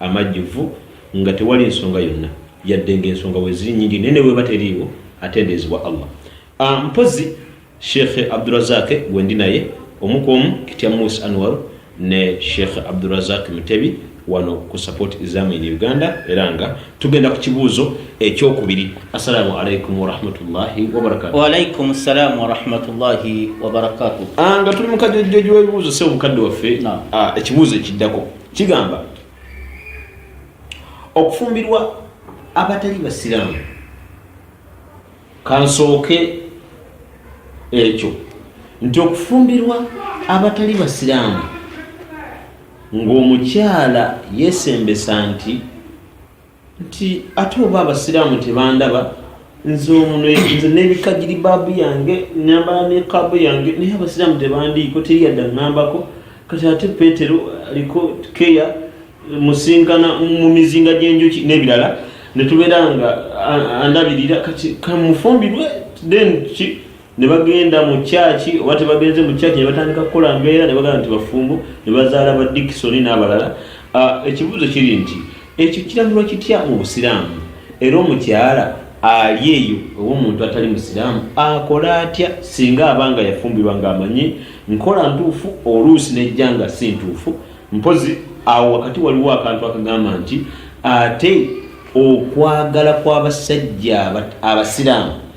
amajjuvu nga tewali nsonga yonna yadde nga ensonga weziri nyingi naye nebweba teriiwo atendeezebwa allah ah, mpozi sheikhe abdurazake gwendi naye omukwomu kitya mus anwar ne sheikhe abdurazak mutebi wano ku support islamu in uganda era nga tugenda ku kibuuzo ekyokubiri assalamu alaikum warahmatullahi wabarakatuwaalaikum ssalamu warahmatullahi wabarakatu ah, nga tuli mukajojjoji webibuuzo se obukadde waffe ah, ekibuuzo ekiddako kigamba okufumbirwa abatali basiraamu kansooke ekyo nti okufumbirwa abatali basiraamu ng'omukyala yesembesa nti nti ate oba abasiraamu tebandaba nze omuno nze nebikagiri baabu yange nyambala nekaabu yange naye abasiraamu tebandiiko teri yadde aŋambako kati ate petero aliko keya musinkana mu mizinga gy'enjuki n'ebirala netubeera nga andabirira kati kamufumbirwe then ki ne bagenda mu kyaki oba tebagenze mu kyaki ne batandika kukola mbeera ne bagamba nti bafumbo ne bazaala ba dikisoni n'abalala ah, ekibuuzo kiri nti ekyo kiragirwa kitya mu busiraamu era omukyala ali eyo oba omuntu atali musiraamu akola atya singa abanga yafumbirwa ng'amanyi nkola ntuufu oluusi nejja nga si ntuufu mpozi awo wakati waliwo akantu akagamba nti ate okwagala kw'abasajja abasiraamu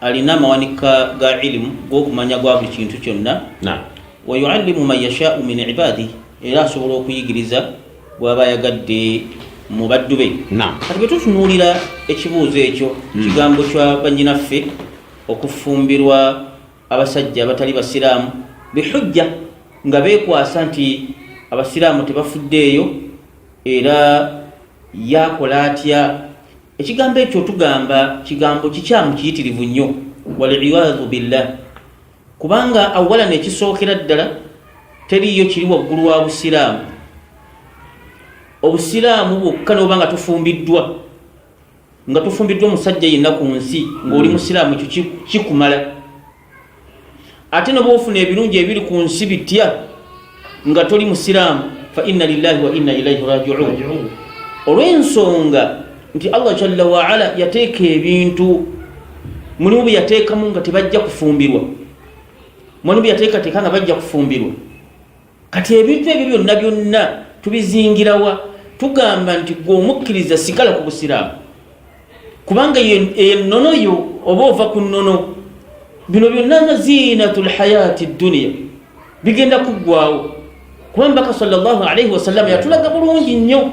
alina amawanika ga ilimu gokumanya gwa buli kintu kyonna wayuallimu man yashaau min ibadi era asobola okuyigiriza bwaba ayagadde mu baddu be kati bwe tutunuulira ekibuuzo ekyo hmm. kigambo kya banyinaffe okufumbirwa abasajja abatali basiraamu bihujja nga bekwasa nti abasiraamu tebafuddeeyo era yakola atya Ekigambo ekyo tugamba kigambo kikyamu kiyitirivu nnyo waliyadhu billah, kubanga awala nekisookera ddala teriiyo kiri waggulu wa busiraamu. Obusiraamu bwokka noba nga tufumbiddwa nga tufumbiddwa omusajja yenna ku nsi ng'oli mm. musiraamu ekyo kikumala ate noba ofuna ebirungi ebiri ku nsi bitya nga toli musiraamu fa inna lillahi wa inna ilaihi rajiun olw'ensonga nti allah jalla waala yateeka ebintu mulimu bye yateekamu nga tebajja kufumbirwa mulimu bye yateekateeka nga bajja kufumbirwa kati ebintu ebyo byonna byonna tubizingirawa tugamba nti gwe omukkiriza sigala ku busiraamu kubanga enono yo oba ova ku nono bino byonna nga zinatu lhayaati dduniya bigenda kuggwawo kuba mbaka salllah alaihi wasallama yatulaga bulungi nnyo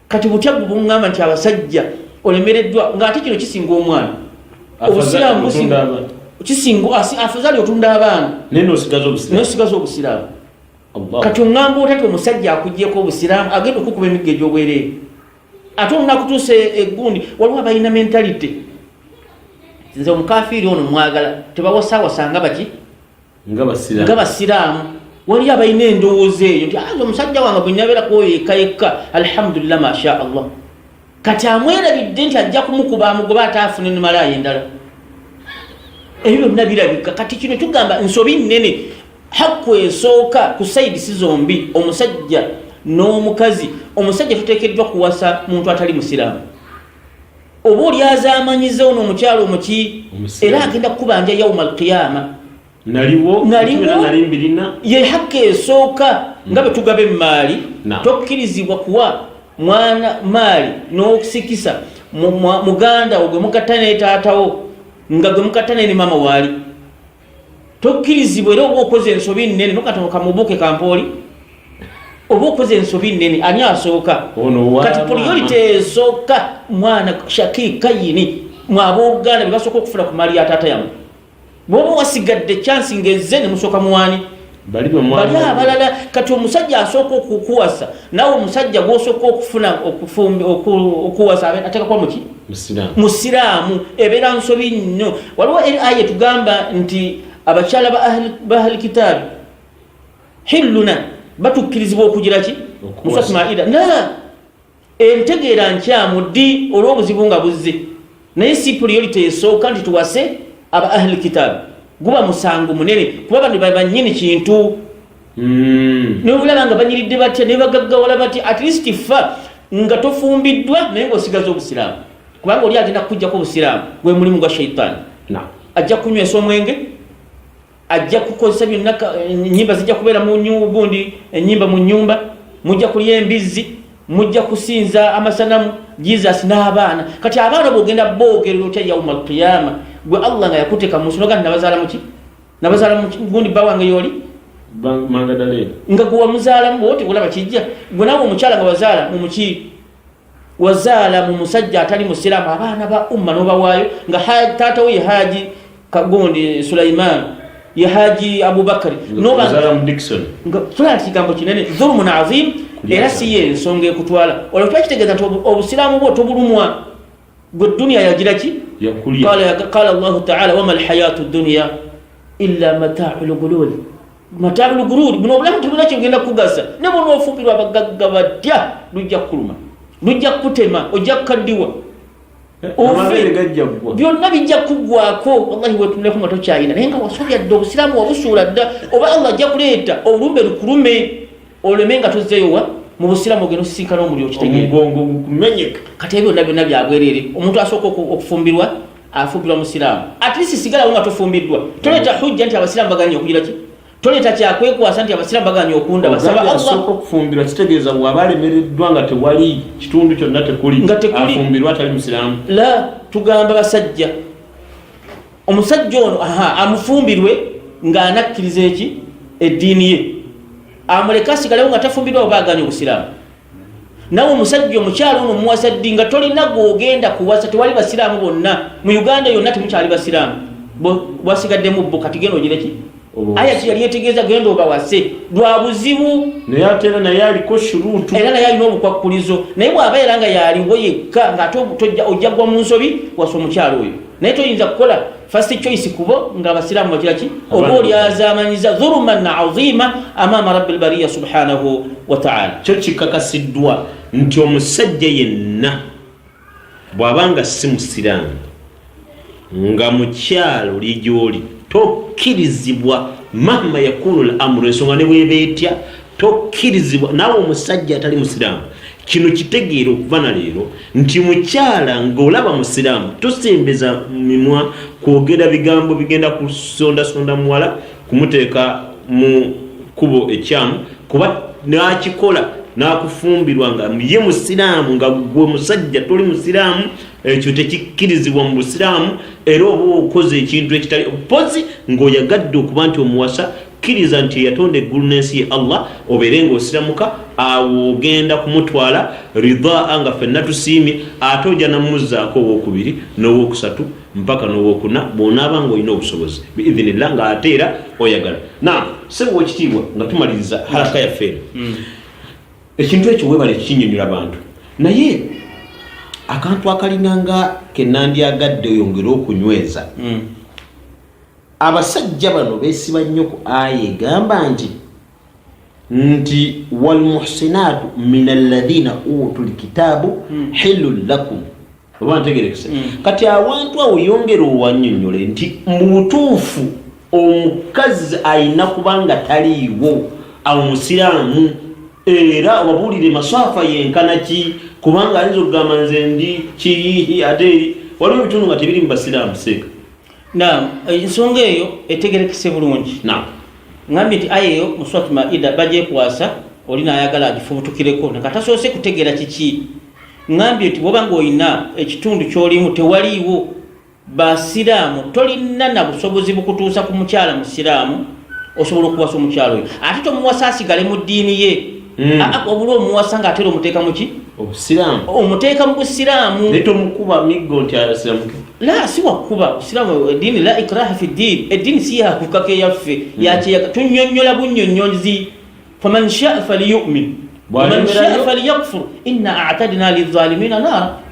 kati butya gubungamba nti abasajja olemereddwa nga ate kino kisinga omwana obusiraamu kisinga afazali otunda abaana naye nosigaza obusiraamu kati ongamba otati omusajja akugyeko obusiraamu agenda okukuba emiggo egyobwereere ate olunakutuusa egundi waliwo abalina mentality nze omukafiiri ono mwagala tebawasawasanga baki nga basiraamu waliyo abalina endowooza eyo nti aza ah, omusajja wange bwe nabeera kwoyo yekka yekka alhamdulillah masha allah kati amwerabidde nti ajja kumukuba amugoba ate afune nemalaaya endala ebyo byonna birabika kati kino tugamba nsobi nnene hakku esooka ku saidisi zombi omusajja n'omukazi omusajja tuteekeddwa kuwasa muntu atali musiraamu oba oli azamanyiza ono omukyalo omuki era agenda kukubanja yauma alqiyama yehakka esooka hmm. nga bwetugaba emaali tokkirizibwa kuwa mwana maali n'okusikisa muganda wo gwe mukatta netaatawo nga gwe mukatta ne ne maama waali tokkirizibwa era oba okoze ensobi nnene nokatono kamubuuke kampooli oba okoze ensobi nnene ani asooka kati poliyolite esooka mwana shaki kayini mwabooluganda bebasooka okufuna ku mali ya taata yamu bwoba wasigadde chansi ngaezze nemusooka muwaani bali abalala kati omusajja asooka okukuwasa nawe omusajja gwosooka okufuna okuwasa atekakuba muki musiraamu ebeera nsobi nnyo waliwo eri aya etugamba nti abakyala bahali kitaabi hilluna batukkirizibwa okugira ki musasmaida na Entegeera nkyamu ddi olw'obuzibu nga buzze, naye si puliyolite esooka nti tuwase aba Ahli Kitaabi. Guba musango munene kuba bano be bannyini kintu. Hmm. Naye obulaba nga banyiridde batya ne bagaggawala batya, at least ffa nga tofumbiddwa naye ng'osigaza Obusiraamu kubanga oli agenda kukuggyako Obusiraamu gwe mulimu gwa shaitaani. Ajja kunywesa omwenge. ajja kukozesa byonna enyimba eh, zijja kubeera mugundi enyimba eh, mu nyumba mujja kulya embizzi mujja kusinza amasanamu jesus n'abaana kati abaana bogenda boogerera otya yauma alqiyama gwe allah nga yakuteka munsi noga nabazaala muki nabazaala mugundi bba wange yooli nga gwe wamuzaalamu bwote kulaba kijja gwe nawe omukyala nga wazaala mumuki wazaala mu musajja atali musiraamu abaana ba umma nobawaayo nga taata we yehaji kagundi sulaiman yehaji abubakari kigambo kinene dhulumun azim era siyo ensonga ekutwala olwo kiba kitegeeza nti obusiraamu bwo tobulumwa gwe duniya yagira ki qala allahu taala wama alhayatu duniya illa matau lgululi matalu lugururi buno obulamu tebulina kyogenda kukugasa ne bwonoofupirwa abagagga batya lujja kukuluma lujja kukutema ojja kukaddiwa byonna bijja kuggwako wallahi wetunuleko nga tokyayina naye nga wasobya dda obusiraamu wabusuula dda oba allah ajja kuleeta olumbe lukulume oleme nga tozzeyowa mu busiramu ogenda osisinkana omuliro kitegeomugongo gukumenyeka kati ebyo byonna byonna byabwerere omuntu asooka okufumbirwa afumbirwa musiraamu at least sigalawo nga tofumbiddwa toleeta mm. hujja nti abasiraamu baganye okugira ki toleeta kyakwekwasa nti abasiraamu baganye okunda basaba allah okufumbirwa kitegeeza waba alemereddwa nga tewali kitundu kyonna tekuli nga tekuli afumbirwa atali musiraamu la tugamba basajja omusajja ono aha amufumbirwe ng'anakkiriza eki eddiini ye amuleke asigalewo nga tafumbirwa oba aganya obusiraamu nawe omusajja omukyalo ono omuwasa ddi nga tolina gwogenda kuwasa tewali basiraamu bonna mu uganda yonna temukyali basiraamu bwasigaddemu bo kati genda ogireki aya kye yali etegeeza genda obawase lwa buzibu naye ate era naye aliko shuruutu era naye alina obukwakkulizo naye bw'aba era nga yaaliwo yekka ng'ate ojja gwa mu nsobi wasa omukyalo oyo naye toyinza kukola first choice kubo nga abasiraamu bakira ki oba olyazamanyiza dhuluman aziima amaama rabbi lbariya subhanahu wataala kyo kikakasiddwa nti omusajja yenna bw'aba nga si musiraamu nga mukyalo li gy'oli tokkirizibwa mahma yakunu l amuru ensonga ne bweba etya tokkirizibwa naawe omusajja atali musiraamu kino kitegeera okuva na leero nti mukyala ng'olaba musiraamu tosembeza mimwa kwogera bigambo bigenda kusondasonda muwala kumuteeka mu kkubo ekyamu kuba n'akikola n'akufumbirwa nga ye musiraamu nga gwe musajja toli musiraamu ekyo tekikkirizibwa mu busiraamu era oba okoze ekintu ekitali mpozi ng'oyagadde okuba nti omuwasa kkiriza nti eyatonda eggulu n'ensi ye allah obeere ng'osiramuka awo ogenda kumutwala ridaa nga fenna tusiimye ate oja namuzzaako owokubiri n'owokusatu mpaka nowokuna bwonaaba nga olina obusobozi biidhinillah nga ate era oyagala na sebo wekitiibwa nga tumaliriza halaka yaffe eno mm. ekintu ekyo webale kinyonyola abantu naye akantu akalina nga kenandyagadde oyongere okunyweza mm. abasajja bano besiba nnyo ku aya egamba nti nti walmuhsinaatu min alladhina utu lkitaabu hmm. hilun lakum oba ntegerekese hmm. kati awantu awo yongera owanyonyole nti mubutuufu omukazi ayina kubanga taliiwo awo musiraamu era obabuulire maswafa yenkana ki kubanga ayinza okugamba nze ndi kiyihi ate waliwo ebitundu nga tebiri mu basiraamu seeka Naam, eh, ensonga eyo etegerekese bulungi. Naam. Ngambye nti aya eyo mu Surat Maida bagyekwasa oli n'ayagala agifubutukireko nga tasoose kutegeera kiki. Ngambye nti bw'oba ng'olina ekitundu ky'olimu tewaliiwo Basiraamu, tolina na busobozi bukutuusa ku mukyala Musiraamu osobola okuwasa omukyala oyo ate tomuwasa asigale mu ddiini ye. Mm. Ah, ah, obula omuwasa nga atera omuteeka muki obusiraamu omuteeka mu busiraamu naye tomukuba miggo nti asiramuke la si wakuba busiraamu ediini la ikraha fi ddiini eddiini si yakukaka eyaffe mm. yakyeyaga tunyonyola bunyonyozi faman shaa faliyumin waman shaa faliyakfur inna atadina lizalimina naara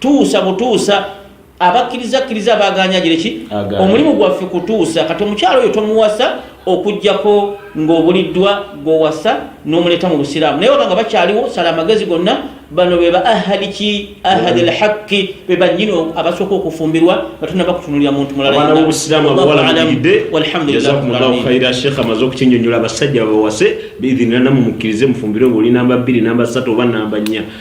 tuusa butuusa abakkiriza kkiriza abaganya gireki omulimu gwaffe kutuusa kati omukyalo oyo tomuwasa okujjako ng'obuliddwa gwowasa n'omuleeta mu busiraamu naye wabanga bakyaliwo sala amagezi gonna bano be ba ahadi ki ahadi mm. lhaqi be bannyini abasooka okufumbirwa nga tunaba kutunulira muntu mulalaobusiramuabuwalabirdealhamdulilakhira sheekh amaze okukinyonyola abasajja babawase biidhinira namumukkirize mufumbirwe ngaoli namba bbiri namba satu oba namba nnya